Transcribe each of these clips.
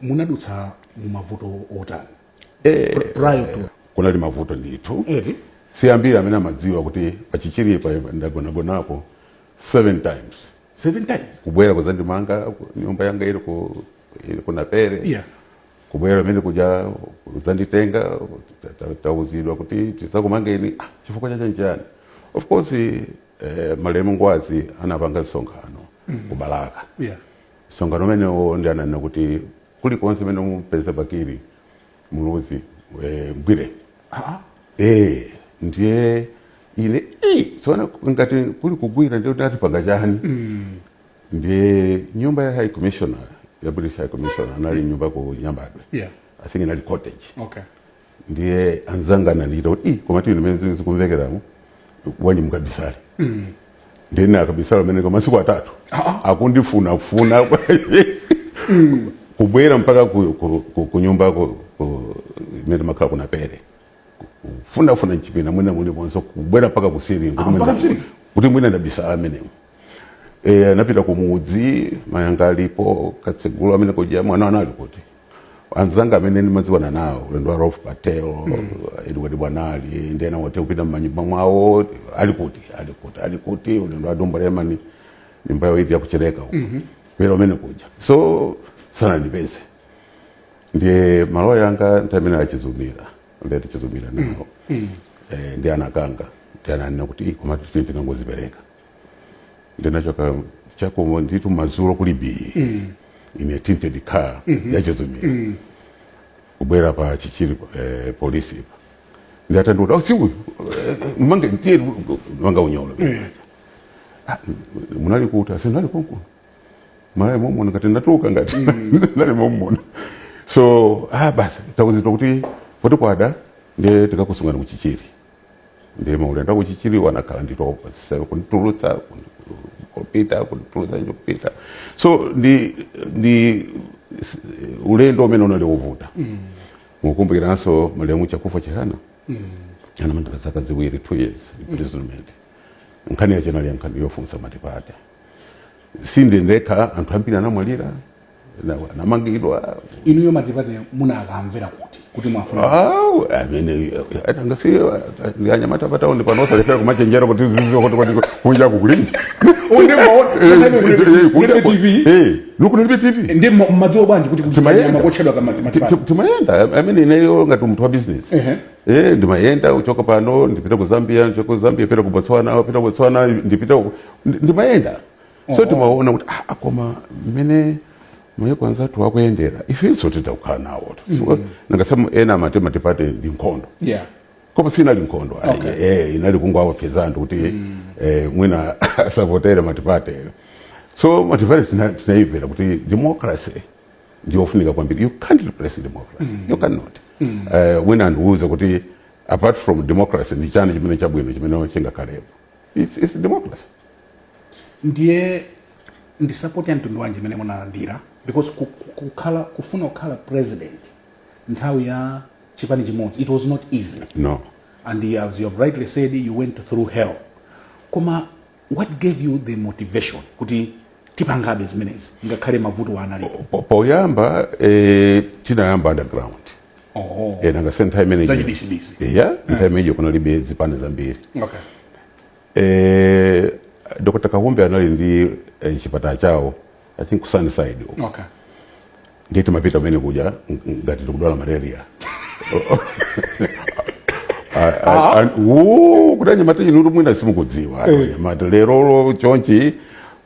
munadutsa mu mavuto otani prior to kunali mavuto ndithu si ambiri amene amadziwa kuti pa Chichiripa ndagonagonapo seven times seven times kubwera kuzandimanga ku- nyumba yanga ili ku ili ku Naperi yeah kubwera kumene kuja kudzanditenga ta- ta- tauzidwa kuti tizakumangeni ah, chifukwa chake nchani of course eh, malemu ngwazi anapanga msonkhano ku Balaka yeah Msonkhano umenewo ndiye ananena kuti kulikonse kumene mupeza Bakili Muluzi eh, mgwire. Ah, eh, ndiye ine eh, so ndati ngati kuli kugwira ndiye kuti atipanga chani ndiye nyumba ya high commissioner ya british high commissioner anali ndi nyumba ku nyambadwe Yeah. i think inali cottage Okay. ndiye anzanga anandichita kuti "Ih, koma inu mene zinthu zikumvekeramu bwanji mukabisale ndiye nakabisala kumeneko masiku atatu akundifunafuna kubwera mpaka ku- ku- ku- kunyumba ku- ku- imene ndimakhala ku Naperi kufunafuna mchipinda mwina muliponse kubwera mpaka kusiringo Ah, mpaka kusiringo? kuti mwina ndabisala mmenemo e, anapita kumudzi mayanga alipo katsegule kumene kuja mwana wanu ali kuti anzanga amene ndimadziwana nawo uyendo wa Rolf Patel mm. Edward Bwanali ndi ena otere kupita mmanyumba mwawo ali kuti ali kuti ali kuti ulendo wa Dumbo Lemani nyumba yawo ili ya ku Chileka uko mm -hmm. pitani kumene kuja so sananipeze ndiye loya wanga nthawi imeneyo a Chizumila ndati Chizumila nawo mm. mm. eh, ndiye anakanga ndiye ananena kuti koma tingozipereka ndinachoka choncho ndithu madzulo kuli bii mm. in a tinted car mm -hmm. ya Chizumila mm. kubwera pa chichiri eh, polisi pa ndiye atandiona oh, si uyu eh, mmange tiye manga unyolo mm. ah, munali kuti aa si ndinali konkuno Malawi momuno ngati ndatuluka ngati mm. ndinali momuno so ah, basi tauzidwa kuti poti kwada ndiye tikakusungani ku Chichiri ndiye maulendo a ku Chichiriwa anakhala ndithu pafupifupi kunditulutsa kupita kunditulutsa ndikupita so ndi ndi s- ulendo umene unali ovuta mukumbukiranso malemu chakufa chihana anamangidwa zaka ziwiri two years imprisonment nkhani yake inali nkhani yofunsa matipate si ine ndekha anthu ambiri anamwalira Na- anamangidwa inuyo matipate munakamvera kuti kuti mwafuna Awu, amene achangasi ndiye anyamata pataundi pano osalekera kumachenjera kuti tiziziwa kuti kuti kunja kulinji nanga kunalibe tv ndiye mma- mmadziwa bwanji kuti Timayenda. kuli kanyama kotchedwa Ti- kamatipate timayenda amene ineyo ngati munthu wa business Ehe. Eh, ndimayenda kuchoka pano ndipita ku zambia ndichoka ku zambia pita ku botswana pita ku botswana ndipita ku- ndi- ndimayenda so timaona kuti ah, koma mmene mayiko anzathu akuyendera ifenso titakhala nawo mm-hmm. nanga si ena amati matipate ndi nkhondo yeah. koma sinali nkhondo okay. eh, inali kungowaopseza anthu kuti mm. eh, mwina asavotere matipate so matipate tinaifera kuti democracy ndiyofunika kwambiri you can't replace democracy mm. you cannot mm. eh, wina andiuze kuti apart from democracy ndi chani chimene chabwino chimene chingakhalepo it's, it's democracy ndiye ndi support ya mtundu wanji imene munalandira because ku- ku- kukhala kufuna kukhala president nthawi ya chipani chimodzi it was not easy no and you- as you have rightly said you went through hell koma what gave you the motivation kuti tipangabe zimenezi ngakhale mavuto analipo Po- poyamba eh, tinayamba underground Oh. Eh, nanga si nthawi imene Zachibisibisi. yeah, nthawi imeneyo kunalibe zipani zambiri Okay. eh, dr Kahumbe anali ndi eh, chipatala chawo i think ku sunnyside uko. Okay. ndiye timapita kumene kuja ng- ng- ngati tikudwala malaria kuti anyamata inutu mwina simukudziwa anyamata lerolo chonchi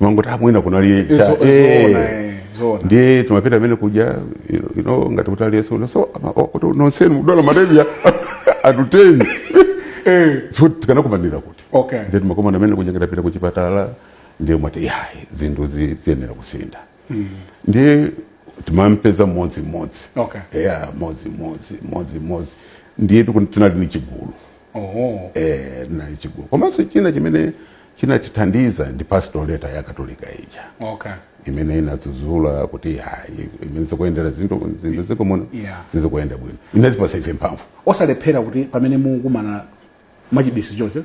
mangoti apo mwina kunali Izo- cha- zoona, eh. eh, zoona. ndiye timapita kumene kuja you know, you know, ngati kuti aliyense uno, so ama- o- kuti nonsenu mudwala malaria anthu ten Eh, so tikanakumanira kuti okay ndiye timakumana kumene kuja ngati tapita kuchipatala ndiye mwati yayi zinthu zi- ziyenera kusintha ndiye timampeza mmodzi mmodzi okay eya mmodzi mmodzi mmodzi mmodzi ndiye tiku- tinali ni chigulu oh eh, tinali chigulu komanso china chimene chinatithandiza ndi pastoral letter ya katolika ija okay imene inadzudzula kuti hayi mmene zikuyendera zinthu zinthu m'dziko muno Yeah. sizikuyenda bwino inatipasa ife mphamvu osalephera kuti pamene mukumana mwachibisi choncho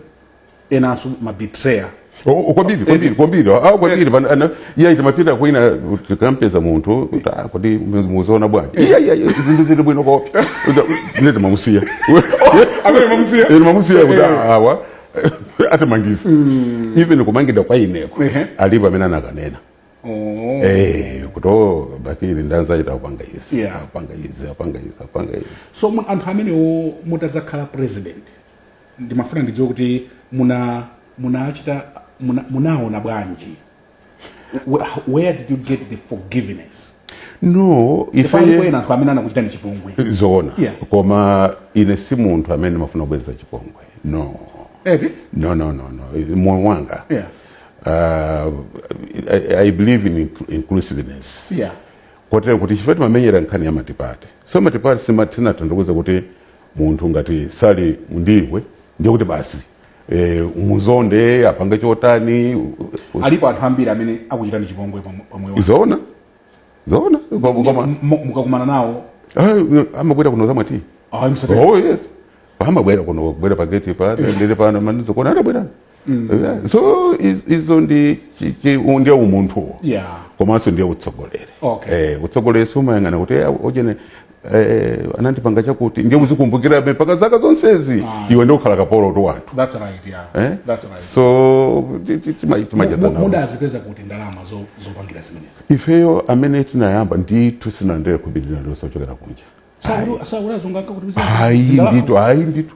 enanso mabetrayer O- o- kwambiri kwambiri kwambiri Ah, kwambiri pana- ana- iya timapita kwina tikampeza munthu kuti ah, kuti mukuziona bwanji iya iya iya, zinthu zili bwino kopi ndiye timamusiya Amene timamusiya? Eh, timamusiya kuti Eh. ah, awa atimangitsa mm. even kumangidwa kwa ineko uh -huh. alipo amene anakanena oh. hey, eh, kuti oh, bakili ndi anzachetu akupanga izi yeah. apanga izi apanga izi apanga izi so anthu amenewo mutadzakhala president ndimafuna ndidziwe kuti muna munachita munaona muna bwanji where did you get the forgiveness no ifeyo ena anthu amene anakuchitani chipongwe zoona yeah. koma ine si munthu amene ndimafuna kubweza chipongwe no Eti? no no no no moyo wanga yeah. uh, I, I believe in inclusiveness yeah kotero kuti chifukwa timamenyera nkhani ya matipate so matipate simatanthauza kuti munthu ngati sali ndiwe ndiye kuti basi e, umuzonde apanga chotani u- u- alipo anthu ambiri amene akuchitani chipongwe pa pa moyo wanu. zoona zoona Kwa- koma M- mu- mukakumana nawo eh, amabwera kuno zamwa tea ayi msatani oh yes amabwera kuno kubwera pageti pa ndiri pano manizo kona anabwera Yeah. so iz- izo ndi chi- chi- u- ndiye umunthuwo yeah komanso ndiye utsogoleri Okay. eh, utsogoleri sumayang'ana kuti eh, ojeni eh, anandipanga chakuti ndiye uzikumbukirabe mpaka zaka zonsezi Ah. iwe ndiye ukhala kapolotu wa anthu that's right yeah eh? that's right so ti- ti- tima- timacheza Mu- nawo. mudazipeza kuti ndalama zo- zopangira zimenezi ifeyo amene tinayamba ndithu sitinalandire khobiri lililonse lochokera kunja Sauli- sauli azungu akakuti bizinesi. ayi Ndalama. ndithu ayi ndithu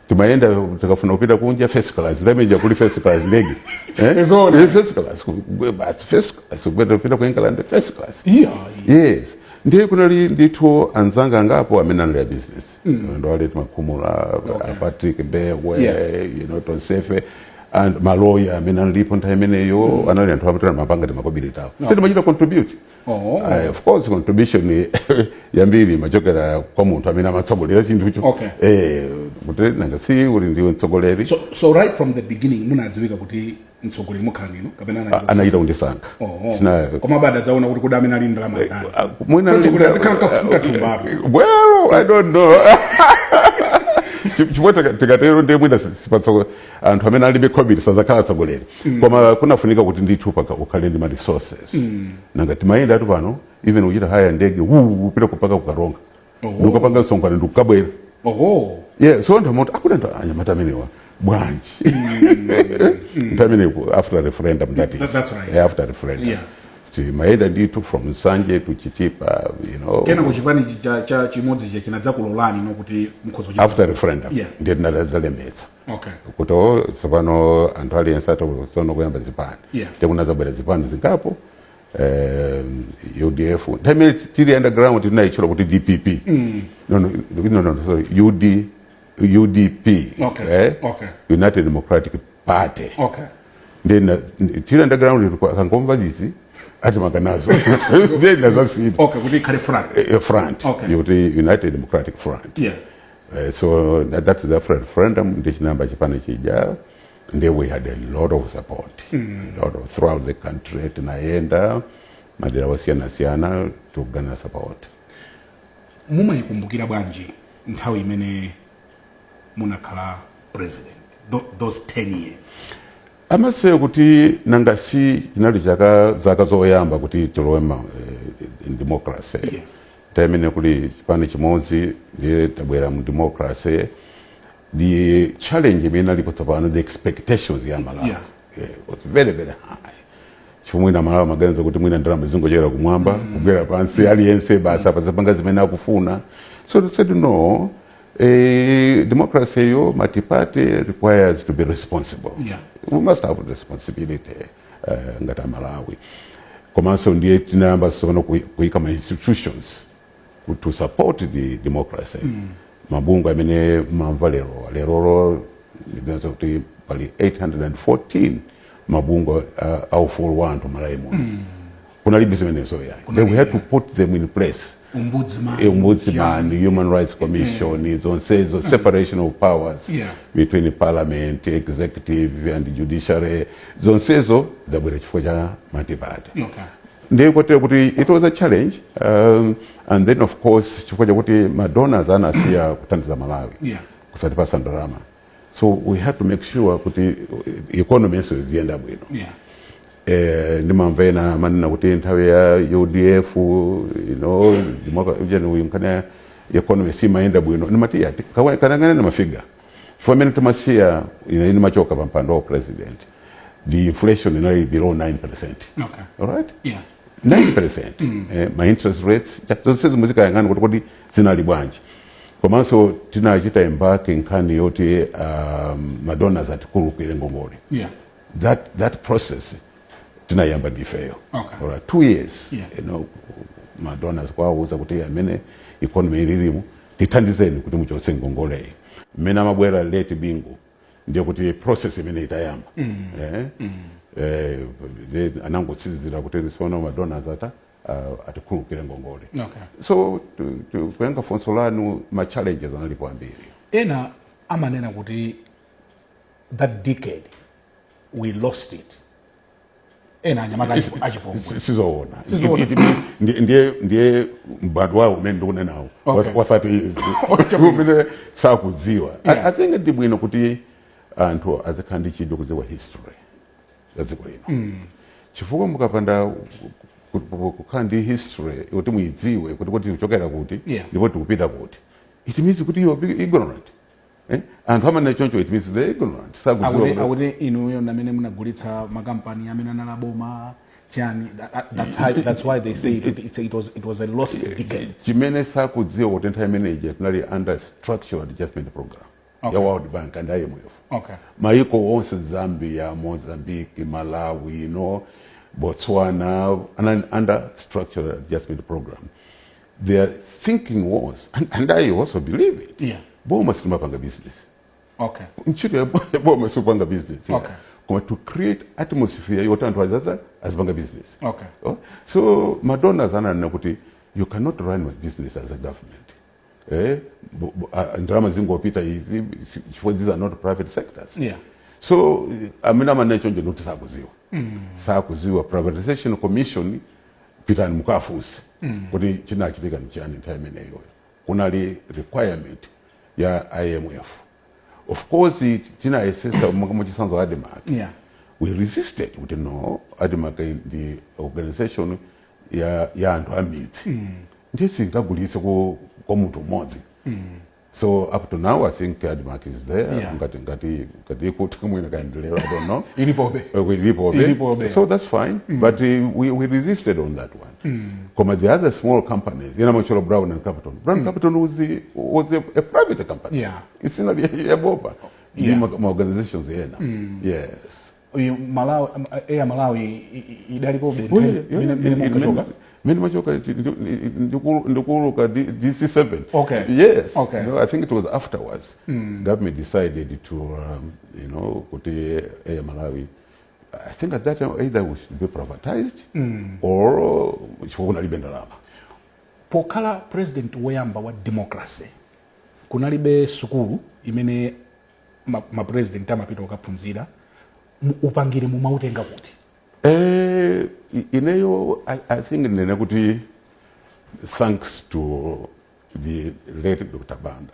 timayenda tikafuna kupita kunja first class nthawi imene ija kuli first class ndege eh? Ni zoona. Eh, first class ku- ku- basi first class kupita kupita ku England first class Yeah. yes ndiye kunali ndithu anzanga angapo amene anali a business ndi a late Makhumula okay. Patrick Mbewe Yeah. you know tonsefe and maloya amene analipo nthawi imeneyo anali anthu amene amapanga timakobiri tawo okay. timachita contribute Oh. Eh, of course contribution yambiri imachokera kwa munthu amene amatsogolera chinthucho Okay. eh, kuti nanga si uli ndiwe mtsogoleri so, so right from the beginning munadziwika kuti mtsogoleri mukhala ndinu kapena anachita kusankha? anachita kundisankha Oh, oh. China- koma adadzaona kuti kodi amene ali ndalama ndani Ah, mwina- Choncho kuti azikhala mkathumba. well i don't know Chi- chifukwa tika- tikatero ndiye mwina si- sipatso anthu amene alibe khobiri sazakhala atsogoleri mm. koma kunafunika kuti ndithu mpaka ukhale ndi ma resources mm. nanga timayendatu pano even kuchita hire ndege kupita mpaka ku Karonga oh. ndikukapanga msonkhano ndikukabwera oh. yeah, so anthu amati akuna ndo anyamata amenewa bwanji mm. nthawi imeneyo after referendum that is That's right. yeah, after referendum yeah. timayenda ndithu from Nsanje to Chitipa you know kenaka chipani chija cha chimodzi chija chinadzakulolani no kuti mukhoza kuchita- after referendum Yeah. ndiye tinadzalembetsa okay kuti o tsopano anthu aliyense atsono kuyamba zipani Yeah. ndiye kunazabwera zipani zingapo um, udf nthawi imene tili underground tinayitchula kuti dpp no, no, no, no, sorry, UD, udp Okay, eh? okay. united democratic party okay nde tili underground kuti akangomva izi atimanga nazo nde tinazasintha okay kuti ikhale front eh, eh, front okay. yoti united democratic front yeah. uh, so that, that is after referendum nde chinayamba chipani chija nde we had a lot of support mm. a lot of throughout the country tinayenda madera osiyana siyana to garner support mumayikumbukira bwanji nthawi imene munakhala president tho- those 10 years amati kuti nanga si zinali chaka zaka zoyamba kuti tilowe ma eh, democracy Yeah. nthawi imene kuli chipani chimodzi ndiye tabwera mu democracy the challenge imene alipo tsopano the expectations ya Amalawi Yeah. eh, was very very high chifukwa mwina Amalawi amaganiza kuti mwina ndalama zingochokera kumwamba kugwera pansi aliyense basi azipanga zimene akufuna so they said no A democracy ya multi-party requires to be responsible. Yeah. We must have responsibility uh, ngati Amalawi. Komanso ndiye tinayamba tsopano kui- kuika ma institutions ku- to support the democracy. Mabungwe amene mumamva lero lerolo mupeza kuti pali 814 mabungwe uh, aufulu wa anthu m'Malawi muno. kunalibe zimenezo yayi we Kunalibe. had to put them in place ombudsman human rights commission zonsezo separation of powers Yeah. between parliament executive and judiciary zonsezo zabwera chifukwa cha multi-party okay ndiye kotero kuti it was a challenge um, and then of course chifukwa chakuti madonors anasiya kuthandiza malawi Yeah. kusatipatsa ndalama so we had to make sure kuti economy yathunso iziyenda bwino yeah. eh, ndimamva ena amanena kuti nthawi ya udf you know, akanena economy siimayenda bwino ndimati akayang'ane mafiga chifukwa mmene timasiya ine ndimachoka pa mpando wa president the inflation inali below 9 percent okay. alright yeah. 9 percent mm. eh, ma interest rates zonse zimene muzikayang'ana kuti kodi zinali bwanji komanso tinachita embark nkhani yoti um, madonors atikhululukire ngongole yeah. that, that process tinayamba ndifeyo okay. alright, two years yeah. you know, madonors kuwauza kuti mmene economy ililimu tithandizeni kuti muchotse ngongoleyi mmene amabwera late bingu ndiye kuti process imene itayamba mm. eh? mm. eh, anangotsirizira kuti sono madonors ata uh, atikhululukire ngongole Okay. so tu- tu- kuyankha funso lanu ma challenges analipo ambiri ena amanena kuti that decade we lost it ena anyamata achi- achipongwe Si- sizoona Sizoona. It- it- it- ndi- ndiye ndiye mbadwo wawo umene ndikunenawo Okay. osati izi umene sakudziwa I- Yeah. i think ndi bwino kuti anthu azikhala ndi chidwi kudziwa history za dziko lino mm. chifukwa mukapanda kukhala ndi history kuti muidziwe kuti kuti tikuchokera kuti yeah. ndipo tikupita kuti it means kuti you are ignorant eh? anthu amanena choncho it means they ignorant sakuziwa kuti inuyo ndi amene munagulitsa makampani amene anali a boma chani that's, how, that's why they say it, it, it, was, it was a lost decade chimene sakudziwa kuti nthawi imeneyi tinali under structural adjustment program okay. ya world bank and imf okay. maiko onse zambia mozambique malawi you know, botswana and under structural adjustment program their thinking was and, and i also believe it yeah. boma silimapanga business okay. ntchito ya boma sikupanga business yeah. okay koma to create atmosphere yoti anthu azaza azipanga business okay. oh? so madonors ananena kuti you cannot run my business as a government eh, bu- bu- a- a- ndalama zingopita izi si- chifukwa these are not private sectors Yeah. so eh, amene amanena choncho ndikuti sakuziwa sakuziwa privatization commission pitani mukafunse kuti chinachitika ndi chani nthawi imeneyoyo kunali requirement ya imf of course tinayesesa monga mwachitsanzo admarc yeah. we resisted kuti no admarc ndi organization ya, ya anthu amidzi mm. ndiye sitingagulitse kwa, kwa munthu mmodzi mm. so up to now i think admarc is there Yeah. ngati ngati ngati kuti mwina kaendelera i don't know ilipobe Uh, with Ilipobe. Ilipobe. So that's fine. But uh, we, we resisted on that one. koma the other small companies ena macholo brown and capital brown mm. capital was, the, was a, a private company yeah. isina yaboma ndi yeah. ma organizations ena mm. yes uyu malawi eya malawi idalipobe oh, mene mene machoka ndikuuluka dc7 okay. yes okay. no, i think it was afterwards mm. government decided to um, you know kuti eya malawi I think at that time either we should be privatized mm. or uh, chifukwa kunalibe ndalama pokhala president woyamba wa democracy kunalibe sukulu imene mapresident ma amapita kukaphunzira upangire mumautenga kuti eh, ineyo I, i think ndinene kuti thanks to the late dr banda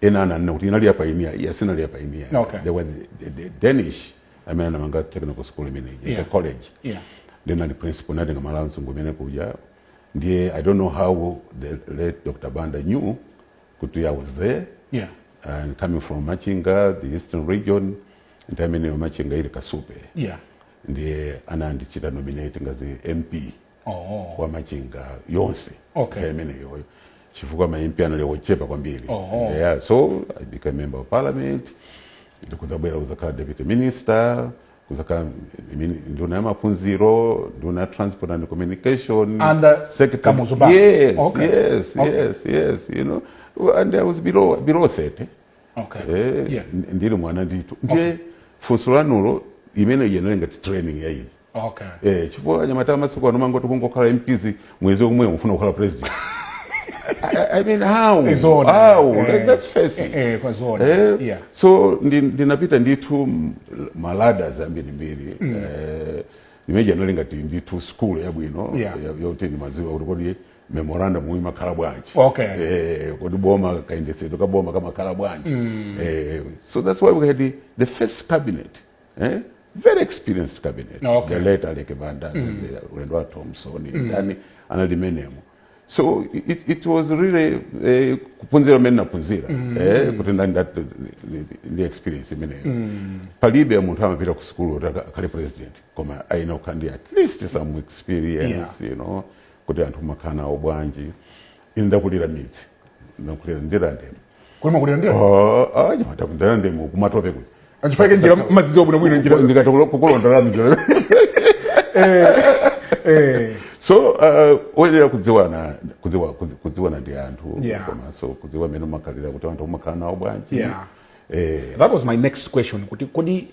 ena ananena kuti inali yapainiya iyayi sinali yapainiya Okay. there was the, the danish amene anamanga technical school imeneyi it's Yeah. a college Yeah. ndinali principal ndinatenga mala anzungu imene kuja ndiye i don't know how the late dr banda knew kuti i was there Yeah. and coming from machinga the eastern region nthawi imeneyo machinga ili kasupe Yeah. ndiye anandichita nominate ngazi mp oh. kwa machinga yonse okay. nthawi imeneyoyo chifukwa ma MP anali ochepa kwambiri oh. yeah, so I became member of parliament ndikudzabwera kuzakhala deputy minister kuzakhala mini- nduna ya maphunziro nduna ya transport and communication Under secretary- Kamuzu Banda. yes, Okay. yes, Okay. yes, yes, you know and I was below, below 30 okay. eh, yeah. ndili mwana ndithu ndiye okay. funso lanulo imene ija inali ngati training ya ine okay. eh, chifukwa anyamata amasiku ano mangoti kungokhala mps mwezi omwewo mufuna kukhala president I, I mean how Zona. how eh, let's face it eh, kwa zona eh, yeah. so ndinapita ndi ndithu ma ladders ambirimbiri mm. eh, imene ija inali ngati ndithu school yabwino yeah. yoti ndimaziwa kuti kodi memorandum imakhala bwanji okay. eh, kodi boma kayendesedwe ka boma kamakhala bwanji mm. eh, so that's why we had the, the first cabinet eh? very experienced cabinet no, okay. the late aleke bandas mm. the harry thomson mm. ndani anali m'menemo so it, it was really eh, kuphunzira kumene ndinaphunzira mm. eh, kuti ndani ndi experience imeneyo mm. palibe munthu amapita ku sukulu kuti akhale president koma ayenera kukhala ndi at least some experience yeah. you know kuti anthu umakhala nawo bwanji ine ndakulira mmidzi ndakulira ndirande'mo Kodi mwakulira ndirande? Ah, ah, mnyamata ndirande'mo kumatope kuti Achifukwa chake njira mumazidziwa bwinobwino njira. ndikati kukulondolera njira Eh. so uh, oyenera kudziwana kudziwa, kudzi- kudziwana ndi anthu Yeah. komanso kudziwa mmene umakhalira kuti anthu umakhala nawo bwanji Yeah. eh, That was my next question kuti kodi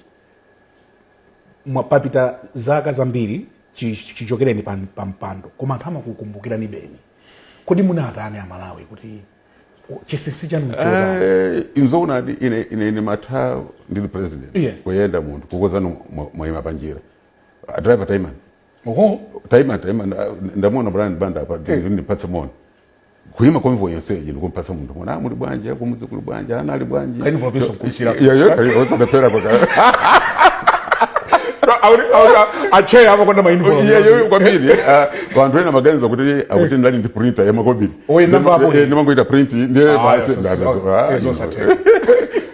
papita zaka zambiri chi- chi- chichokereni pa pa mpando koma anthu amakukumbukiranibe kodi munawatani amalawi kuti u- chinsinsi chanu nchotani Eh, nzoona eti ine ine ndimatha ndili president Iye. kuyenda munthu kukuuzani mwaima panjira Ah, driver taimani oho taima taima ndamuona brian banda apa ndipatse moni kuima convoy yonseyi ndikumpatsa munthu moni ah, muli bwanji kumudzi kuli bwanji ana ali bwanji Envelope nso kumusiyira. Iyo, iyo, iyo, osapepera kwa kaya. acheya amakonda mainfo Iyo, iyo, kwambiri ah, anthu ena amaganiza kuti akuti ndili ndi printer yamakobiri Oye, nyumba apo. ndimangoita print ndiye Ah, basi yes, yes, ndazo- yes, ah, yes, you know. yes, yes.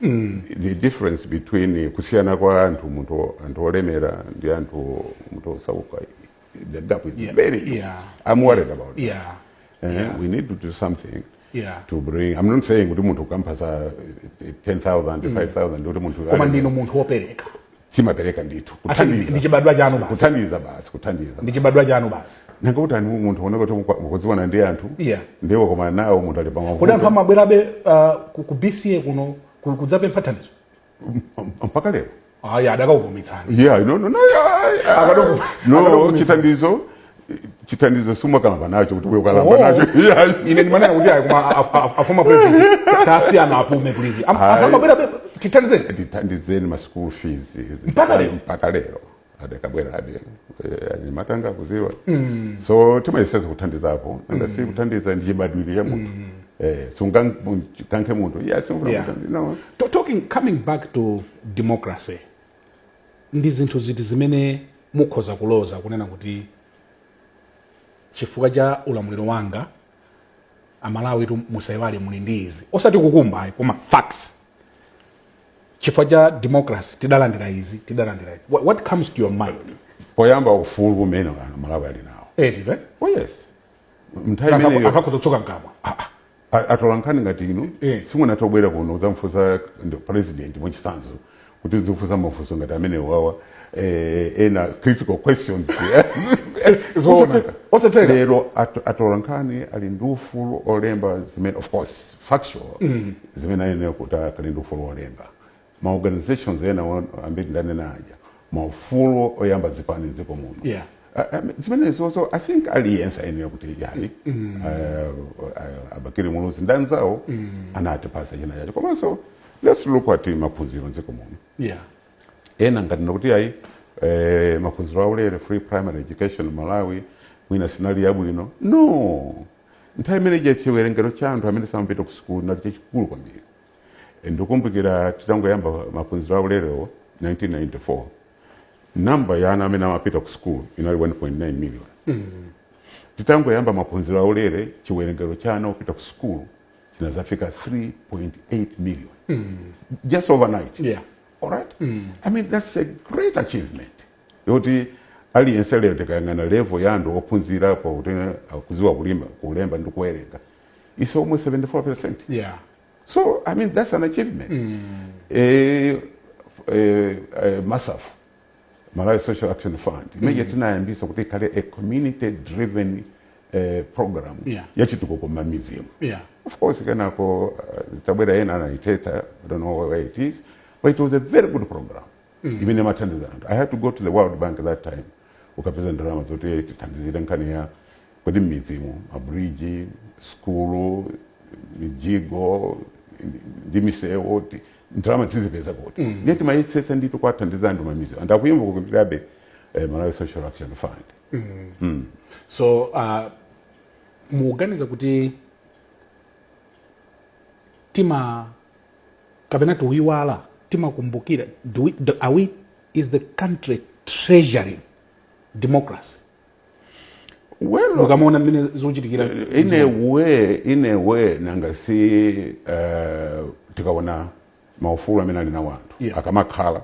mm. the difference between kusiyana kwa anthu munthu anthu olemera ndi anthu munthu osauka the gap is yeah. very huge. Yeah. i'm worried yeah. about yeah. That. Uh, yeah. we need to do something yeah. to bring i'm not saying kuti munthu ukampatsa 10000 5000 kuti munthu koma ndinu munthu wopereka timapereka ndithu Ati ndi- kuthandiza ndi chibadwa chanu basi kuthandiza basi kuthandiza ndi chibadwa chanu basi nanga uti waona munthu woneka kuti mukudziwana ndi anthu Yeah. ndiye wakomana nawo munthu ali kodi anthu pamavuto amabwerabe uh, ku, ku bca kuno ku- kudzapempha thandizo mpaka lero ayi adakakuvutitsani yeah no no no yeah, yeah. Akadoko- no akadoko- chithandizo chithandizo sumakalamba nacho kuti uyu wakalamba Oh. nacho Iyayi. ine ndimanena kuti ayi koma af- af- afoma president tasiyeni apume please Am- Ayi. amabwerabe tithandizeni ndithandizeni ma school fees Mpaka lero? mpaka lero adakabwerabe Eh, anyamata anga akudziwa so timayesetsa kuthandizapo nanga si kuthandiza ndi chibadwire cha munthu Eh, sungankankhe munthu Yeah. no To- talking coming back to democracy Ndi zinthu ziti zimene mukhoza kuloza kunena kuti chifukwa cha ulamuliro wanga amalawitu musaiwale muli ndi izi osati kukumbayi koma facts chifukwa cha democracy tidalandira izi tidalandira izi what, what comes to your mind poyamba ufulu umene amalawi ali nawo eti right? oh yes nthawi imeneyo anthu akhoza kukutsoka mkamwa A- atola nkhani ngati inu Eh. simunathe kubwera kuno kudzamufunsa president mwachitsanzo kuti muzifunsa mafunso ngati amenewawa eh, ena critical questions Zoona. Osatheka. Osatheka. lero at- atola nkhani ali ndi ufulu olemba zimene of course factual zimene ayenera kuti akali ndi ufulu olemba ma organizations ena wa- ambiri ndanena aja maufulu oyambitsa zipani mdziko muno Yeah. Ah, ah, zimenezozo i think aliyense ayenera kuti yani ah, ah, a Bakili Muluzi ndanzawo anatipasa china chacho komanso let's look at maphunziro mdziko muno yeah ena amati nkuti ayi eh, maphunziro aulere free primary education malawi mwina sinali yabwino no nthawi imeneija chiwerengero cha anthu amene samapita ku sukulu chinali chachikulu kwambiri E, ndikumbukira titangoyamba maphunziro a ulerewo 1994 namba ya ana amene amapita ku sukulu inali 1.9 million titangoyamba maphunziro a ulere chiwerengero cha ana opita ku sukulu chinazafika 3.8 million just overnight Yeah. all right i mean that's a great achievement yoti aliyense lero tikayang'ana level ya anthu ophunzira pokuti akudziwa kulima kulemba ndi kuwerenga is almost 74 percent yeah so i mean that's an achievement eh, eh, eh, MASAF malawi social action fund imene tinayambisa kuti ikhale a community driven eh, program Yeah. yachitukuko m'mamidzimu yeah of course kenako uh, atabwera ena anayithetsa i don't know where it is but it was a very good program mm. imene imathandiza anthu i had to go to the world bank that time kukapeza ndalama zoti tithandizire nkhani ya kodi mmidzimu mabridge skulu mijigo ndi misewu ti- ndalama tizipeza kuti mm. ndiye timayesetsa ndithu kuwathandiza anthu m'mamidzi anthu akuyimba kukumbukirabe eh, malawi social action fund so uh, muganiza kuti tima kapena timaiwala timakumbukira do we, do, are we is the country treasuring democracy well mukamaona mmene zikuchitikira in a way in a way nanga si uh, tikaona maufulu amene ali nawo anthu Yeah. akamakhala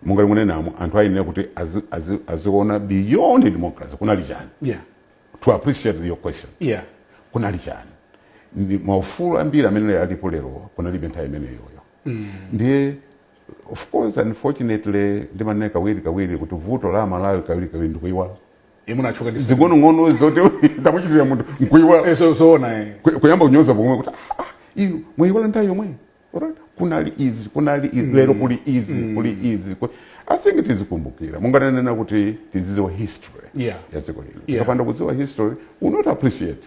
monga mmene munenamo anthu ayenera kuti azi- azi- aziona beyond democracy kunali chani yeah to appreciate your question yeah. kunali chani ndi maufulu ambiri amene alipo lero kunalibe nthawi imeneyoyo mm. ndiye of course unfortunately ndimanena kawiri kawiri kuti vuto la malawi kawiri kawiri ndikuiwala munthu timatchuka ndi zing'onong'ono zoti tamuchitira munthu nkuiwala Eh, zo- zoona eh. kuyamba kunyoza pomwe kuti "Ah, ah, inu mwayiwala nthawi yomwe Alright? kunali izi kunali izi lero kuli izi kuli izi ku- i think tizikumbukira mungananena kuti tizidziwa history Yeah. ya dziko lino Yeah. tikapanda kudziwa history we'll not appreciate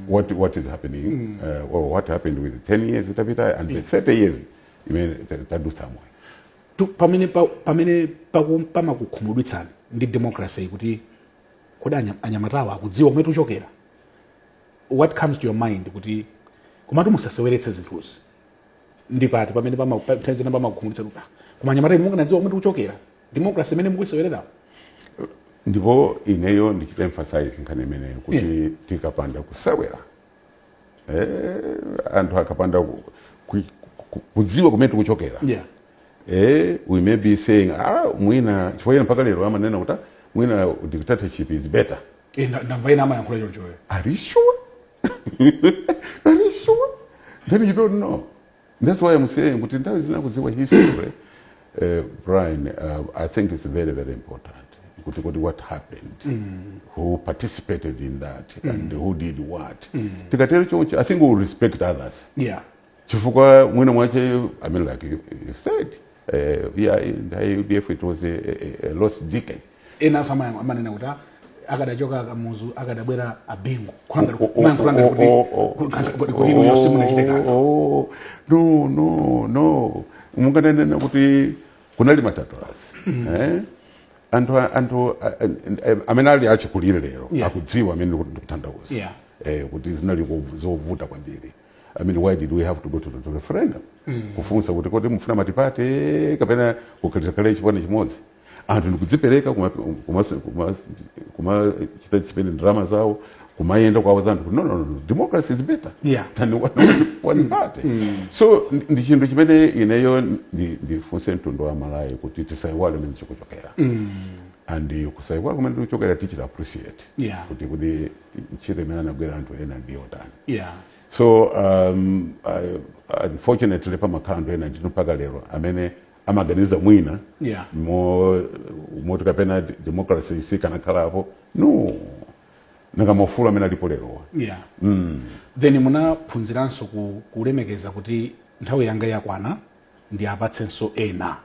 what, what is happening uh, or what happened with 10 years itapitayo and the 30 years imene ta- tadutsa moyo Tu- pamene pa- pamene paku- pamakukhumudwitsani ndi democracy kuti kodi anya- anyamatawa akudziwa kumene tikuchokera what comes to your mind kuti komatu musaseweretse zinthuzi ndi pati pamene pama- pa- nthawi zina pamakukhumudwitsa kuti "Ah, koma anyamata inu mukanadziwa kumene tikuchokera democracy imene mukuiseweretsayo ndipo ineyo ndichita emphasize nkhani imeneyo kuti tikapanda kusewera eh, anthu akapanda ku- ku- ku- kudziwa kumene tikuchokera yeah eh, we may be saying ah, mwina chifukwa ena mpaka lero amanena kuti "Ah, mwina dictatorship is better Eh, na- ndamva ena amayankhula chonchoyo Are you sure? Are you sure? Then you don't know. That's why I'm saying kuti nthawi zina kudziwa history eh, Brian, uh, I think it's very very important kuti kuti what happened who participated in that and who did what tikatero choncho I think we will respect others yeah chifukwa mwina mwache i mean like you, you said uh, yeah, nthawi ya udf it was a, a, a lost decade ena amanena kuti ah, akadachoka a Kamuzu akadabwera a Bingu kulanga Oh, oh, kumanga kulanga oh, kuti oh, oh. kulanga kuti kuti ino yose munachite kanthu Oh, oh, no no no mungananena kuti kunali matatoasi eh? anthu anthu a- a- a- amene ali achikulire lero Yeah. akudziwa zimene ndikutanthauza Yeah. eh, kuti zinali ko- zovuta kwambiri I mean, why did we have to go to the referendum? Mm. Kufunsa kuti kodi mufuna matipate kapena kukhala chipani chimodzi. Anthu ndikudzipereka kumachita spend ndalama zawo kumayenda kuwauza anthu kuti no, no, no, democracy is better yeah. than one, one mm. party mm. so ndi chinthu chimene ineyo ndifunse mtundu wa Malawi kuti tisaiwale kumene tikuchokera mm. and kusaiwala kumene tikuchokera tichita appreciate yeah. kuti kuti ntchito imene anagwira anthu ena ndi yotani yeah. so um, I, unfortunately pamakhala anthu ena ndithu mpaka lero amene amaganiza mwina Yeah. mo- moti kapena d- democracy sikanakhalapo no nanga maufulu amene alipo lerowa yeah. then munaphunziranso ku, kulemekeza kuti nthawi yanga yakwana ndiwapatsenso ena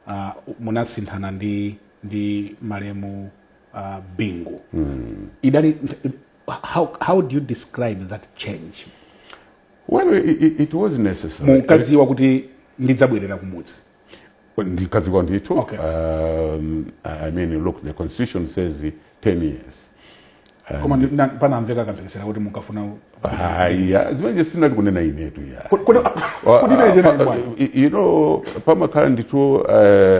uh, munasinthana ndi ndi malemu uh, Bingu. Mm. Idali, how, how do you describe that change? Well, it, it, it was necessary. Munkadziwa kuti ndidzabwerera kumudzi. Ndinkadziwa ndithu. Okay. Um, I mean, look, the constitution says 10 years. koma panamveka kamphekesera kuti munkafuna haya zimene sindinanene inetu ya you know pamakhala ndithu uh,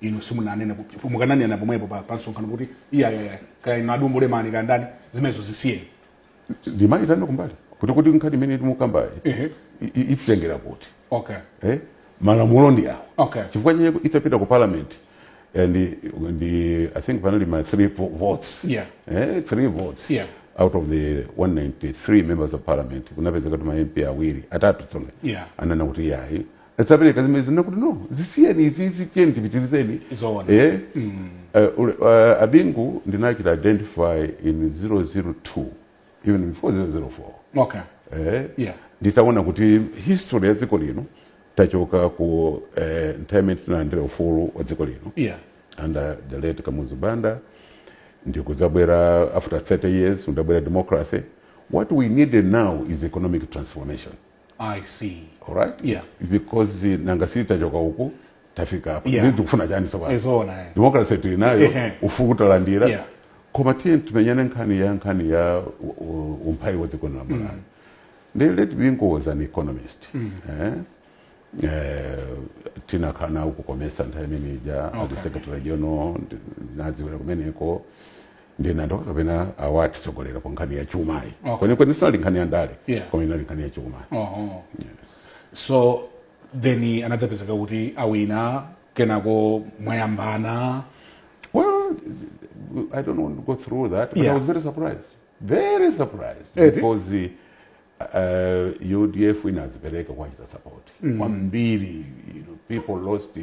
inu simunanene ku- ku- mukananena pomwepo pa, pa msonkhano kuti iyayaya kaya inu a Dumbo Lemani kaya ndani zimenezo zisiyeni ndimaitana kumbali kuti kuti nkhani imene timukambayi Ehe. i- i- ititengera kuti okay eh? malamulo ndi awo Okay. chifukwa chake itapita ku parliament and ndi i think panali ma three vo- votes Yeah. eh, three votes Yeah. out of the 193 members of parliament kunapezeka kuti ma mp awiri atatu tsonga Yeah. ananena kuti yayi sapereka zimene zina kuti no zisiyeni izizi tiyeni tipitirizeni Zoona. eh? mm. uh, ule- uh, abingu ndinachita identify in 002 even before 004 okay eh? Yeah. nditaona kuti history ya dziko lino tachoka ku eh, nthawi imene tinalandira ufulu wa dziko lino yeah under the late Kamuzu Banda ndikudzabwera after 30 years kunabwera democracy what we needed now is economic transformation i see alright Yeah. because eh, nanga si tachoka uku tafika apa Yeah. yeah. tikufuna chani sopano zoona eh. democracy tili nayo Ehe. ufulu talandira Yeah. koma tiye timenyane nkhani ya nkhani ya u- u- umphawi wa dziko la malawi ndi late bingu was an economist eh? Eh, tinakhala nawo ku comesa nthawi imene ija ali secretary general ndinawadziwira kumeneko ndinangoti kapena awa atitsogolera pa nkhani ya chumayi Okay. kwenikweni sinali nkhani ya ndale Yeah. koma inali nkhani ya chumayi Oho. so then anadzapezeka kuti awina kenako mwayambana Well, I don't want to go through that, but Yeah. I was very surprised. Very surprised Eti? because the uh, UDF inadzipereka kuwachita support kwambiri you know, people lost uh,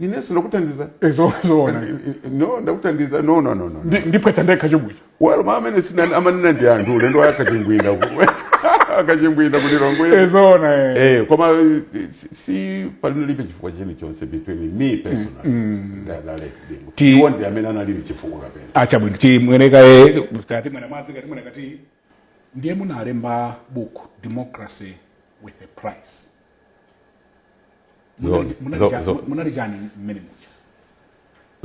ninenso ndakuthandiza Eh, zo- zoona N- n- no ndakuthandiza no no no no Ndi- ndiphetsa ndekha chomwecho walo mama amene sina- amanena ndi anthu ulendo wa akachimbwinda ku- akachimbwinda Eh, kulilongwe zoona eh. Eh, koma eh, si- si palinalibe chifukwa chilichonse between me personally ndi a late Bingu ndi amene anali ndi chifukwa kapena achabwino timwenekaye kati mwana mwadzi kati mwana kati ndiye munalemba book democracy with a price Zoona, zoona, zoona. munali chani mmene muja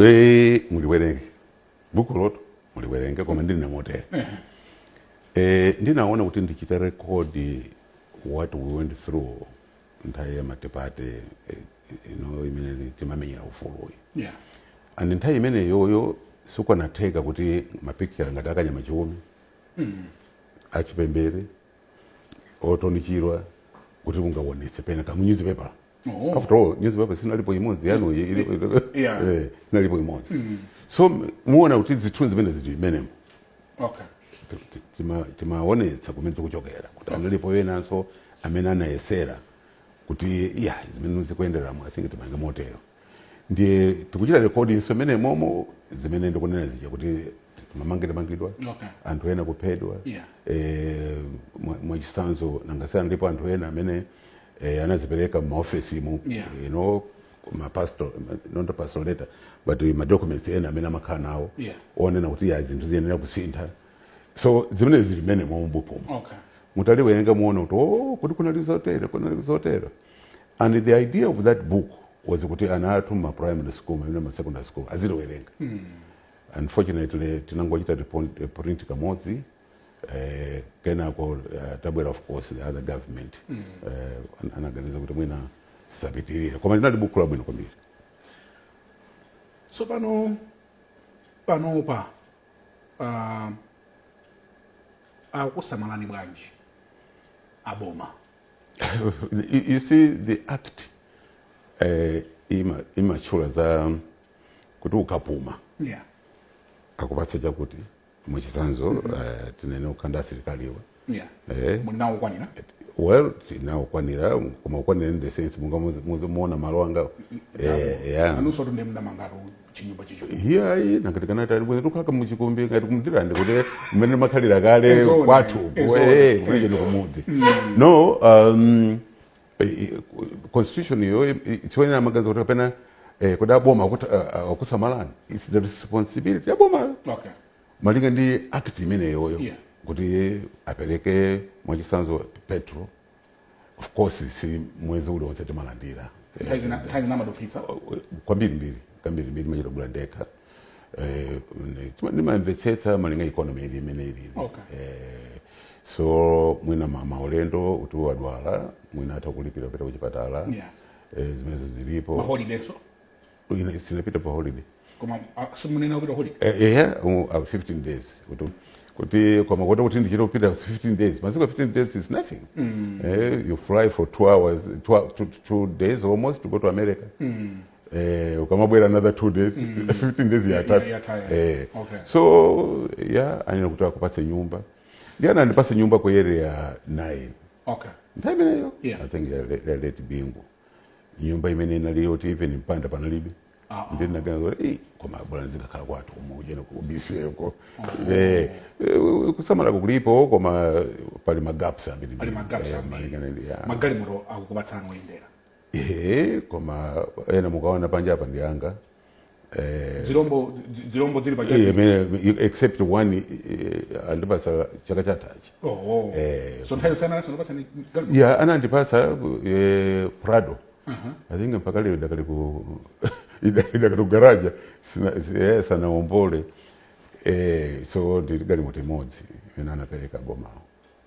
Eh, muliwerenge bukulotu muliwerenge koma ndinena motere eh, ndinaona kuti ndichita rekodi what we went through nthawi ya matipate eh, ino imene timamenyera ufuluyi yeah and nthawi imeneyoyo sikanatheka kuti mapikicha ngati akanyama chiume mm. achipembere orton chirwa kuti ungaonese penake munyuzipepala oh. after all newspaper sinalipo imodzi yanu eh, inalipo imodzi mm. so muona kuti zithunzi zimene zili mmenemo okay timaonetsa kumene tikuchokera kuti analipo enanso amene anayesera kuti ya zimene zikuyenderamo i think timange motero ndiye tikuchita recording so imene momo zimene ndikunena zija kuti mamangidwamangidwa Okay. anthu ena kuphedwa Yeah. eh, mwa- mwachisanzo nangasiyana ndipo anthu ena amene eh, anazipereka mumaofesi mu Yeah. you know mapastor not a pastor letter but madocuments ena amene amakhala nawo Yeah. onena kuti ya zinthu ziyenera kusintha so zimene zili mene mombupomo okay mutaliwerenga muona kuti o kuti kunali zotero kunali zotero and the idea of that book was kuti ana athu ma primary school mwina ma secondary school aziliwerenga mm. unfortunately tinangochita eh, print kamodzi eh, kenako uh, tabwera of course the other government mm. uh, anaganiza kuti mwina sisapitirira koma linali buku labwino kwambiri so panopa uh, akusamalani bwanji aboma you see the act eh, i, imatchula za kuti ukapuma yeah. akupatsa chakuti mwachitsanzo mm -hmm. uh, eh, tinene ukanena asilikaliwa yeah. eh, munawo okwanira well tinawo okwanira koma okwanira in the sense mungamaone malo angawo eh, yeah. chinyumba chicho hiyayi nangati kana tani bwino ukakakhala muchikombe ngati kumdirande kuti mmene amakhalira kale Ezona, kwathu ezona. eh kulije kumudzi no um eh, eh, constitution yo tsiwenera maganizo kuti kapena eh, kuti aboma kuti akusamalani it's the responsibility ya boma okay malinga ndi act imeneyo Yeah. kuti apereke mwachisanzo petrol of course si mwezi uliwonse timalandira nthawi zina nthawi zina amaduphitsa kwambiri mbiri kwambiri mbiri ndimachita kugula ndekha Eh, ne- tima- ndimamvetsetsa malinga economy ili imene ilili Okay. Eh, so mwina ma- maulendo kuti wadwala mwina atha kulipira kupita kuchipatala Yeah. Eh, zimenezo zilipo maholidaynso Ine sinapita pa holiday koma ah, simunena kupita holiday Eh, ehe um, uh, 15 days kuti kuti koma kuona kuti ndichita kupita 15 days masiku 15 days is nothing eh, you fly for two hours two, hou- two, two days almost to go to america eh, ukamabwera another two days 15 days yatha Ya- yatha. eh. Okay. so ya anena kuti akupatse nyumba ndiye anandipatsa nyumba ku area 9 okay nthawi imeneyo Yeah. i think ya- ya late bingu nyumba imene inali yoti even mpanda panalibe Ah, ah. ndinaganza "Ei, koma bwana ndizingokhala kwathu kuno ujeni ku BCA ko Eh, eh, kusamalako kulipo koma pali magaps ambiri Pali magaps Eh, ambiri. malingana ndi- ya. magalimoto anakupatsani oyendera Eh, koma ena mukaona panja apa ndi anga eh, dzilombo dzi- dzilombo dzili pa eh, chati imene- except one eh, andipasa chaka chathachi, oh oh Eh, so nthawi yosiyana nawo anandipatsa ndi galimoto ya anandipasa eh, prado i think mpaka lero idakali ku idakali ku garaja sina- si- eh, sanaombole eh, so ndili ndi galimoto imodzi imene anapereka bomawo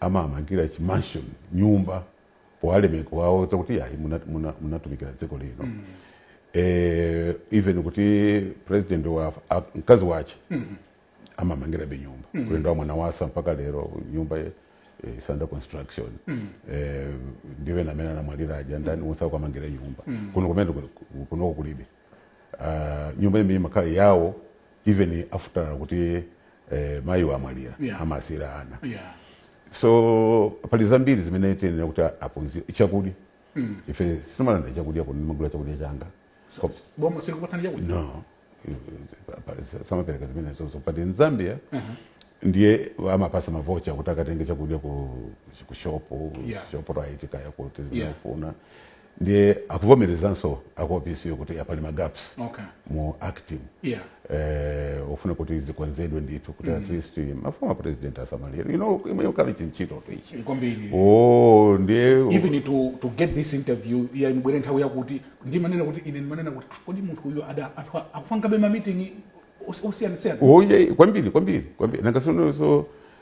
amawamangira chi mansion nyumba powalemekeza kuti ayi muna- muna- munatumikira dziko lino eh, even kuti president wafa mkazi wache amamumangirabe nyumba uli ndi a Mwanawasa mpaka lero nyumba eh, is under construction eh, ndi ena amene anamwalira aja ndani onse akuwamangira nyumba kuno kumene kunoko kulibe ah, nyumba imene ija imakhala yawo even after kuti eh, mayiwo amwalira Yeah. amasiyira ana yeah so pali zambiri zimene tiyenera kuti aphunzire chakudya ife sitimalandira chakudya kuno ndimagula chakudya changa Ko- boma silikupatsani chakudya no samapereka zimenezo but in zambia ndiye amawapatsa mavocha kuti akatenge chakudya ku ku shopu Yeah. Shoprite kaya kuti Yeah. zimene ufuna ndiye akuvomerezanso aku opc kuti a pali ma gaps okay. mu act yeah. eh, ofuna kuti zikonzedwe ndithu kuti mm. at least ma former president asamalidwe you know inu mukali chintchito ichi kwambiri oh ndiye even to to get this interview yandibwera nthawi yakuti ndimanena kuti ine ndimanena kuti ah, kodi munthu uyu adakali akupangabe ma meeting osiyana siyana oye oh, kwambiri kwambiri kwambiri nanga tsonso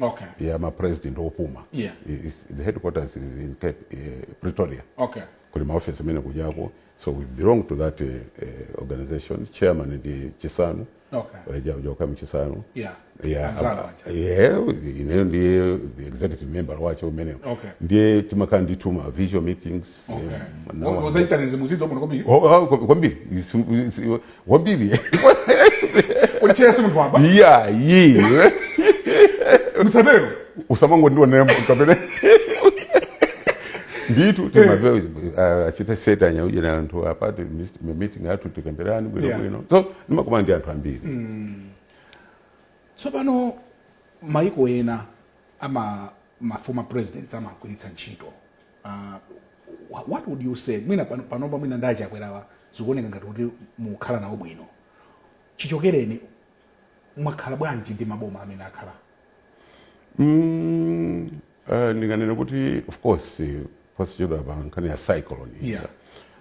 okay. ya mapresident opuma Yeah. I- is- the headquarters is in Cape, eh, pretoria okay. kuli maofesi amene kujako so we belong to that eh, eh, organization chairman ndi Chissano okay. wa Joaquim Chissano yeah. Yeah, Anzana apa- wacha. yeah, ineyo ndiye the executive member wa zimenezo Okay. ndiye timakhala ndi tima virtual meetings ozaitanize muzidzi wabwino kwambiri Oh, oh, kwa- kwambiri Isu- isu- kwambiri olitchera si munthu wamba iyayi musatero usamangondionera kapena ndithu timapewa kuchita sewetsanya uje na anthu apa ti meeting athu tikambirane bwino Yeah. bwino so ndimakumana ndi anthu ambiri tsopano maiko ena ama ma former presidents amagwiritsa ntchito Uh, what would you say mwina panopa mwina ndi a Chakwerawa zikuoneka ngati kuti mukhala nawo bwino chichokereni mwakhala bwanji ndi maboma amene akhala mm, uh, ndinganene kuti of course posachedwapa pa nkhani ya cyclone yeah.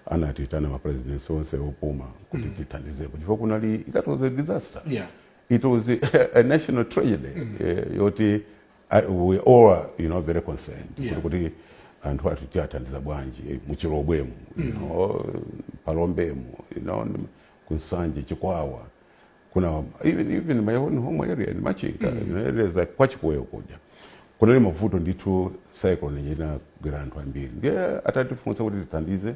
anatiitana mapresidents onse opuma kuti mm. tithandizepo chifukwa kunali that was a disaster yeah. it was a, a national tragedy mm. uh, yoti I, we all are, you know, very concerned yeah. kuti anthu athu tiathandiza bwanji eh, muchilobwemu mm. you know, mphalombemu you know, ku Nsanje chikwawa kuna even, even my own home area in machinga mm. you know, areas like kwa Chikweo kuja kunali mavuto ndithu cyclone inagwera anthu ambiri ndiye atatifunsa kuti tithandize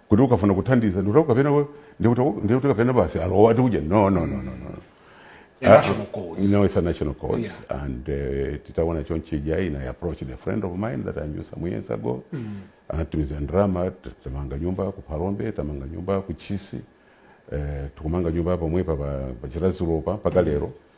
kuti ukafuna kuthandiza ndikuti kapena we- ndikuti ndikuti kapena basi alowa ati kudya no no no no no A national cause. no it's a national cause Yeah. and uh, titaona chonchija ine I approached a friend of mine that I knew some years ago anatumiza ndrama t- tamanga nyumba ku Phalombe tamanga nyumba ku Chisi eh, tukumanga nyumba pomwepa pa pa Chiradzulu pa mpaka lero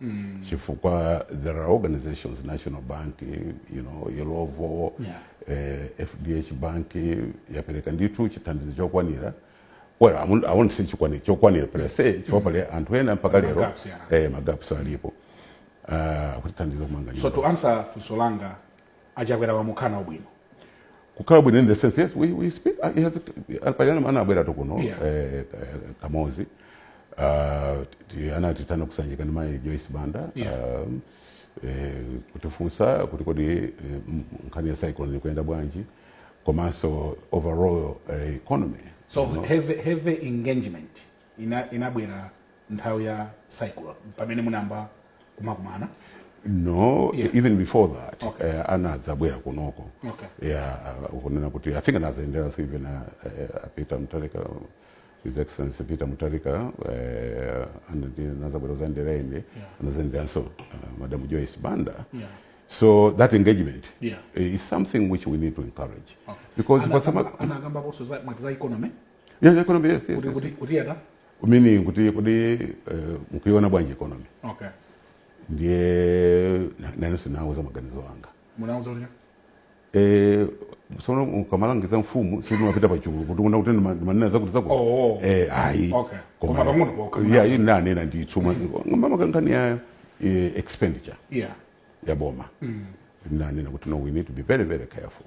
mm. chifukwa there are organizations national bank you know Illovo yeah. eh, fdh bank yapereka ndithu chithandizo chokwanira well I won't, I won't say chokwanira chokwanira per se chifukwa mm. pali anthu ena mpaka lero magaps, yeah. eh, magaps alipo uh, ah, akutithandiza kumanga so to answer funso langa a Chakwera mumamvana bwino kukhala bwino in the sense yes we, we speak uh, he has alipajana ana abwera to kuno Yeah. eh, eh, kamodzi uh, ti- anatiitana ku Sanjika ndi mai joyce banda Yeah. um, eh, kutifunsa kuti kodi eh, m- nkhani ya cyclone ikuyenda bwanji komanso overall eh, economy so you know. heavy, heavy engagement ina inabwera nthawi ya cycle pamene munayamba kumakumana no Yeah. even before that Okay. eh, anadzabwera kunoko Okay. yeah uh, kunena kuti i think anazendera so even uh, uh, peter mutarika his excellency peter mutarika uh, anazabwera uzandera ende anazenderanso uh, madam joyce banda Yeah. so that engagement Yeah. eh, is something which we need to encourage Okay. because Ana- pasama- anakambaponso za- mwati za economy Yes, economy, yes, yes, kuti yes. kuti kuti yata Meaning kuti kodi eh, mkuiona bwanji economy okay ndiye nanenso nawauza maganizo anga munawauza kuti Eh, sono ukamalangiza mfumu sumapita pachulu kuti kuna kuti ndima- ndimanena zakuti zakuti Oh. Eh, ayi Okay. Koma pang'ono pokha. ya iyi nanena ndithu makamaka nkhani ya eh, expenditure yeah ya boma nanena kuti no we need to be very very careful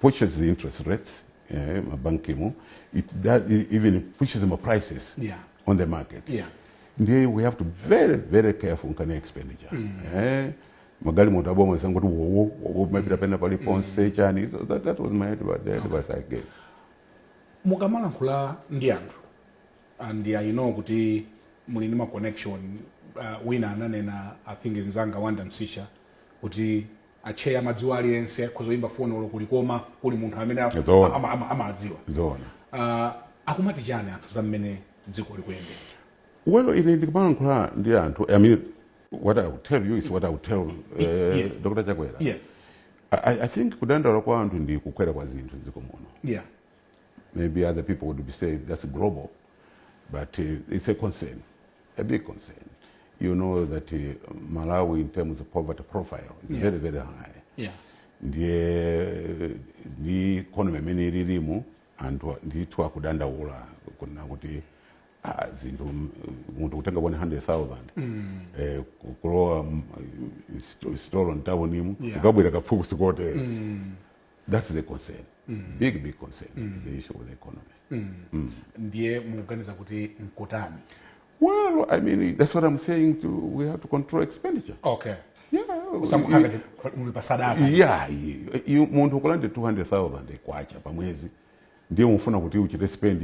pushes the interest rates eh, mabankimu it does, even pushes ma prices yeah. on the market yeah. ndiye we have to be very very careful nkhani ya expenditure mm. eh, magalimoto aboma osangoti wowo wowo kumapita pena pali mm. ponse mm. chani so that, that was my advice I gave mukamalankhula ndi anthu ah, and I know kuti muli ndi ma connection uh, wina ananena i think nzanga Wonder Msiska kuti Atcheya amadziwa aliyense akhoza kuyimba foni olo ku Likoma kuli munthu amene a- Zoona. ama- ama- amadziwa zoona Ah, akumati chani anthu za mmene dziko likuyendera well ine ndikumalankhula ndi anthu i mean what i will tell you is what i will tell eh, Yes. dr chakwera yeah I, I- i think kudandaula kwa anthu ndi kukwera kwa zinthu dziko muno yeah maybe other people would be saying that's global But uh, it's a concern, a big concern. You know that uh, Malawi, in terms of poverty profile, is yeah. very, very high. Yeah. ndiye ndi economy imene ililimu anthu ndithu akudandaula kuna kuti ah, zinthu munthu kutenga 100000 mm. eh, kulowa sitolo mtawunimu yeah. ukabwera kaphukusi kotero mm. That's the concern. Mm. Big, big concern. Mm. The issue of the economy. Mm. Mm. Ndiye muganiza kuti mkotani? Well, I mean, that's what I'm saying to, we have to control expenditure. Okay. Yeah. Usamukanga muli pasadaka. Yeah. Munthu kulande 200,000 kwacha pa mwezi. ndiye ukufuna kuti uchite spend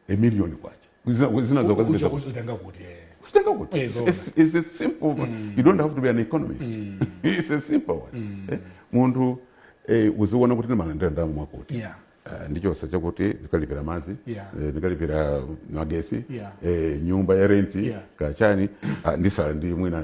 a million kwacha Zina- zina Uja zokazipeza kuti uzitenga kuti eh. Uzitenga kuti. Eh, It's- zona. it's- it's a simple one. you don't have to be an economist it's a simple one Eh, munthu eh, uziona kuti ndimalandira ndalama mwakuti Yeah. Eh, ndichotsa chakuti ndikalipira madzi Yeah. eh, ndikalipira magesi Yeah. eh, nyumba ya renti Yeah. kachani ah, nditsala ndi mwina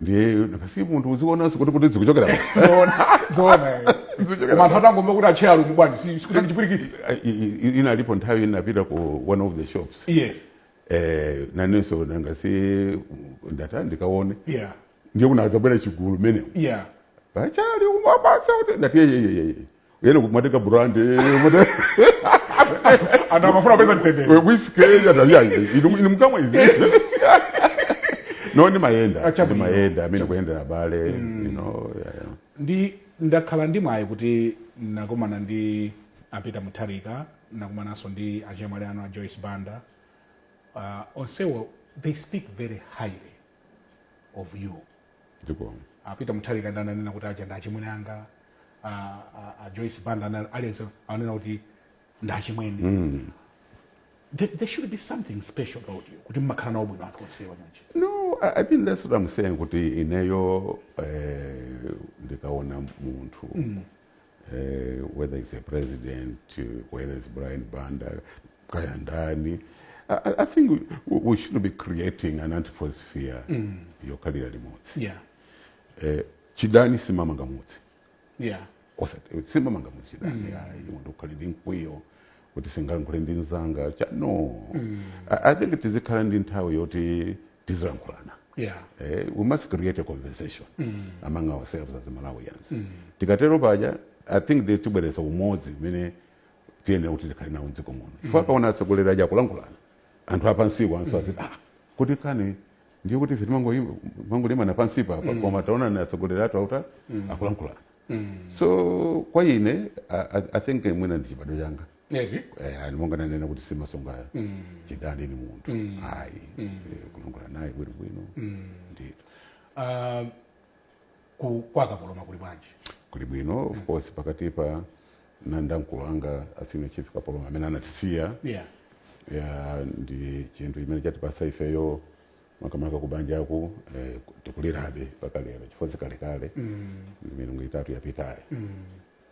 ndiye basi munthu uzionanso kuti kuti zikuchokera pa- zoona zoona eh. Zikuchokera koma anthu atangomva kuti atcheya ali mubwanji si sikutani chipwirikiti I- i- i- inalipo nthawi inapita ku one of the shops yes eh, nanenso nanga si ndata ndikaone yeah ndiye kunadzabwera chigulu mene yeah atchali umabatsa kuti ndati yeyeyeye ene kumatenga brand anthu amafuna kupeza mtendere whisky inu mkamwa izi no ndimayenda Ah, chabwino. ndimayenda kumene kuyendera abale you know, yeah, yeah. ndi ndakhala ndi mwayi kuti nakumana ndi a Peter Mutharika nakumananso ndi achemwali anu a joyce banda uh, onsewo they speak very highly of you zikomo a Peter Mutharika ndi ananena kuti aja ndi achimwene anga uh, uh, a Joyce Banda ana- aliyense ananena kuti ndi achimwene mm. there, there should be something special about you kuti mmakhala nawo bwino anthu onsewa chonchi no I, i mean that's what i'm saying kuti ineyo eh, ndikaona munthu mm. uh, whether it's a president, uh, whether it's Brian Banda, kaya ndani. I, I- I think we, we should be creating an atmosphere mm. yokhalira limodzi yeah uh, chidani sichimanga mudzi yeah osati sichimanga mudzi chidani ayi munthu ukhale ndi mkwiyo kuti sindingalankhule ndi mnzanga cha no I, i think tizikhala ndi nthawi yoti tizilankhulana yeah. eh, we must create a conversation mm. among ourselves as malawians mm. tikatero paja i think they tibweretsa umodzi umene tiyenera kuti tikhale nawo mdziko muno mm. chifukwa akaona atsogoleri aja akulankhulana anthu apansiwonso mm. aziti ah kuti kani ndiye kuti ife timangolimbana pansipa mm. koma taonani atsogoleri athu auta mm. akulankhulana mm. so kwa ine I, i think mwina ndi chibadwa changa eti Eh, ali monga nanena kuti simasunga chidani ni munthu ayi Eh, kulongola naye bwino bwino ndito Ah, ku- kwa kapoloma kuli bwanji kuli bwino of course pakatipa ndinali ndi akulu anga a senior chief kapoloma amene anatisiya yeah ya ndi chinthu chimene chatipatsa ifeyo makamaka kubanjaku eh, tikulirabe mpaka lero chifukwa si kalekale milungu itatu yapitayo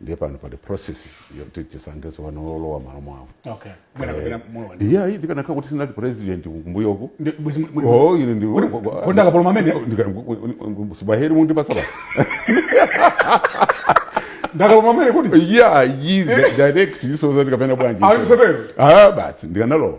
ndiye pano pali process yoti tisankhe tsopano wolowa m'malo mwawo okay mwina kapena eh, mulowa ndi yeah ndikanakhala kuti sindinali president kumbuyoku oh ine ndi kwenda kapolo mamene sibaheri mundi pasaba ndi a kapoloma amene kuti yeah yize direct is zoti kapena bwanji ah basi ndikanalowa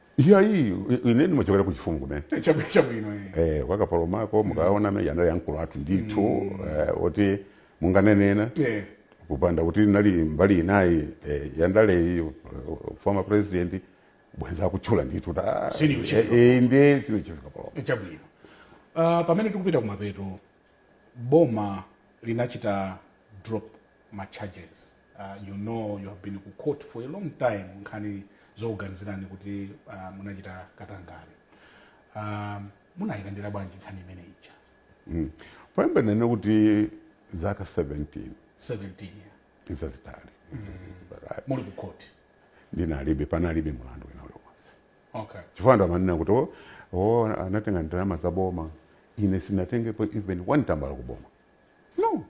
iya iyi ine ndimachokera ku chifumu kumene Eh, chabu- chabwino eh. eh, kwa kapolomako mukaona amene anali akulu athu ndithu eh, oti munganenena Eh, kupanda kuti munali mbali inayi eh, yandaleyi eh, former president bwenzi akutchula ndithu kuti, ah, Senior chief. eh, eh, ndiye senior chief kapolomako eh, chabwino Ah, pamene tikupita kumapeto boma linachita drop ma charges uh, you know you have been ku court for a long time nkhani zokuganizirani kuti uh, munachita katangale um, munayilandira bwanji nkhani imene ija Mm. poyamba ndinene kuti zaka 17 17 yeah. zitalizitali muli ku court ndinalibe panalibe mulandu wina uliwonse okay. chifukwa anthu amanena kuti o oh, oh, anatenga ndalama za boma ine sindinatengepo even one tambala ku boma no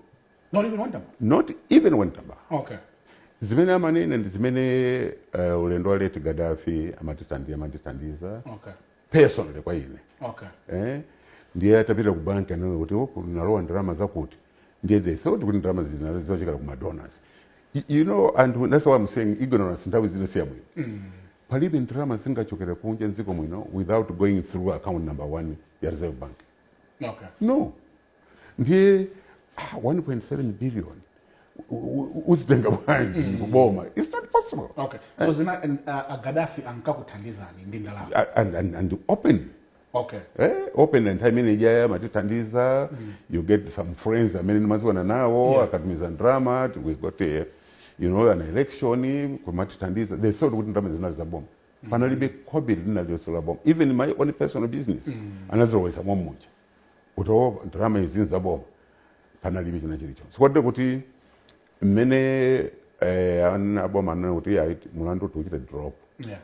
not even one tambala not even one tambala okay zimene amanena ndi zimene uh, ulendo wa late Gaddafi amatithandi- amatithandiza okay. personally kwa ine okay. eh? ndiye atapita ku banki anaona kuti oh, zinalowa ndalama zakuti ndiye they thought kuti ndalama zija zinali zochokera ku madonors Y- you know anthu that's why I'm saying ignorance nthawi zina si yabwino palibe ndalama zingachokere kunja mdziko muno without going through account number one ya reserve bank okay no ndiye ah, 1.7 billion u- u- uzitenga bwanji kuboma it's not possible okay so zina uh, agadafi ankakuthandizani ndi ndalama A- and, and, and open okay eh, open nthawi imene ijaya amatithandiza you get some friends amene ndimadziwana nawo Yeah. akatumiza ndrama t- we got a, you know an election kumatithandiza they thought kuti ndrama zinali za boma panalibe khobiri lina lililonse la boma even my own personal business anazilowetsa momwemuja kuti o ndrama izi ni za boma panalibe china chilichonse kotero kuti mmene eh, ana- a boma anena kuti ayi mulandu tiuchite drop yeah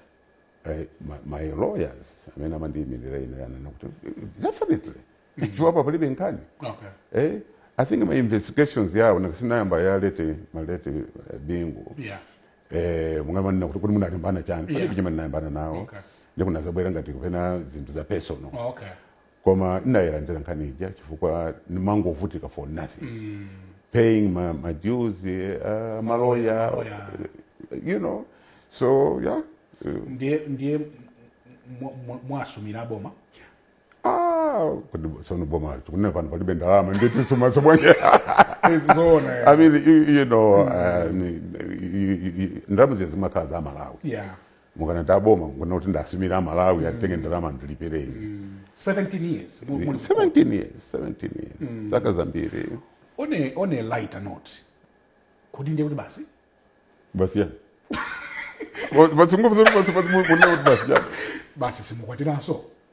Eh, ma, ma lawyers amene amandiyimirira ine anena kuti eh, definitely chilipo apa palibe nkhani Okay. eh, i think ma investigations yawo nkhani inayamba ya late ma late eh, bingu Yeah. eh, mungamanene kuti kuti munalimbana chani Yeah. palibe chimene ndinalimbana nawo Okay. ndiye kunadzabwera ngati kapena zinthu za personal Okay. koma ndinayidandaula nkhani ija chifukwa ndimangovutika for nothing paying ma, ma dues uh, maloya Maloya. you know so yeah uh, ndiye ndiye mwa- mwa- mwasumira aboma ah kodi sono boma tikune pano palibe ndalama nde tisumanso bwanje zoona i mean you, you know uh, ni- you- you- you- ndalama zija zimakhala za amalawi yeah mukanena za boma mukunena kuti ndasumira amalawi mm. atenge ndalama andilipire mm. 17 years 17 years 17 years mm. zaka zambiri on a, on a lighter note kodi ndiye kuti basi basi yani basi ndikufunsa basi basi basi basi simukwatiranso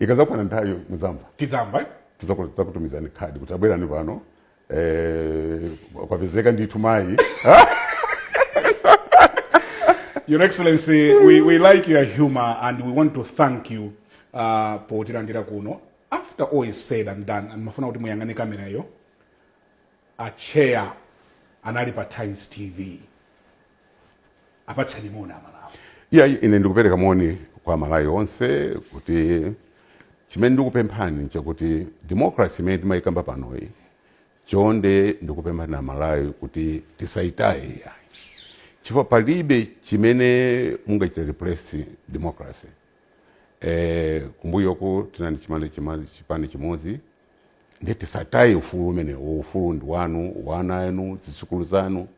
ikazakwana nthawi muzamva tidzamva tizakutumizani khadi kuti tabwerani pano eh, kwapezeka ndithu mayi Your Excellency, we, we like your humor and we want to thank you uh, potilandira kuno. After all is said and done, ndimafuna kuti muyang'ane kamerayo, a chair ali pa Times TV. apatseni moni amalawi iya ine ndikupereka moni kwa amalawi onse kuti chimene ndikupemphani nchakuti democracy imene timayikamba panoyi chonde ndikupemphani amalawi kuti tisayitaye iyayi chifukwa palibe chimene mungachita replace democracy eh, kumbuyoku tinali chi chi chipani chimodzi ndiye tisataye ufulu umenewo ufulu ndi wanu wa ana anu zidzukulu zanu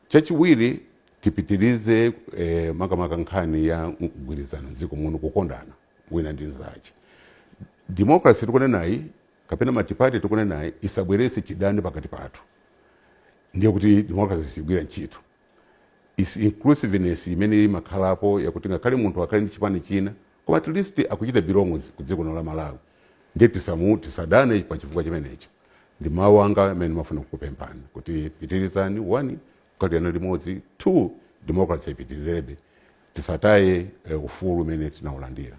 chachiwiri tipitirize eh, makamaka nkhani ya kugwirizana mdziko muno kukondana wina ndi mzache democracy tikunenayi kapena matipati tikunenayi isabweretse chidani pakati pathu ndiye kuti democracy sigwira ntchito is inclusiveness imene imakhalapo yakuti ngakhale munthu akhale ndi chipani china koma at least akuchita belong ku dziko lino la malawi ndiye tisamu tisadane pa chifukwa chimenecho ndi mawu anga amene ndimafuna kukupemphani kuti pitirizani one kukhalirana limodzi two democracy ipitirirebe tisataye eh, ufulu umene tinaulandira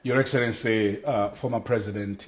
Your Excellency, uh, former President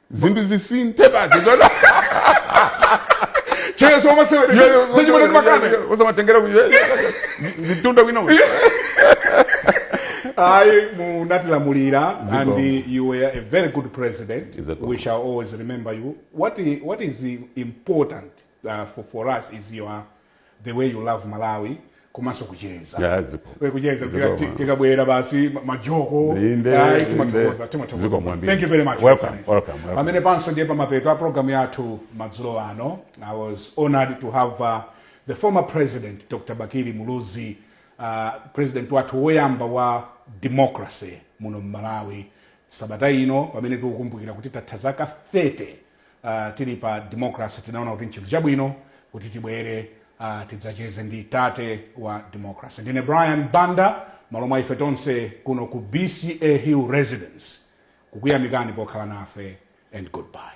zinthu zisinthe basi chezo wamasewera sechimene timakana osamatengera mtundu wina ayi munatilamulira Zikomo. and you were a very good president Zikomo. we shall always remember you what, i- what is important uh, for, for us is your the way you love malawi komanso kucheza Yeah, zikomo. kucheza Zikomo, tika- ti- man. tikabwera basi ma- majoko Inde, ayi, inde. timathokoza Zikomo, timathokoza kwambiri. thank you very much Welcome, Mr. Nisi. welcome, welcome. pamene panso ndiye pamapeto a programu yathu madzulo ano i was honored to have uh, the former president dr bakili muluzi uh, president wathu woyamba wa democracy muno mmalawi sabata ino pamene tikukumbukira kuti tatha zaka 30 tili pa democracy tinaona kuti nchinthu chabwino kuti tibwere uh, tidzacheze ndi tate wa democracy ndine brian banda malo mwa ife tonse kuno ku bca hill residence kukuyamikani pokhala nafe and goodbye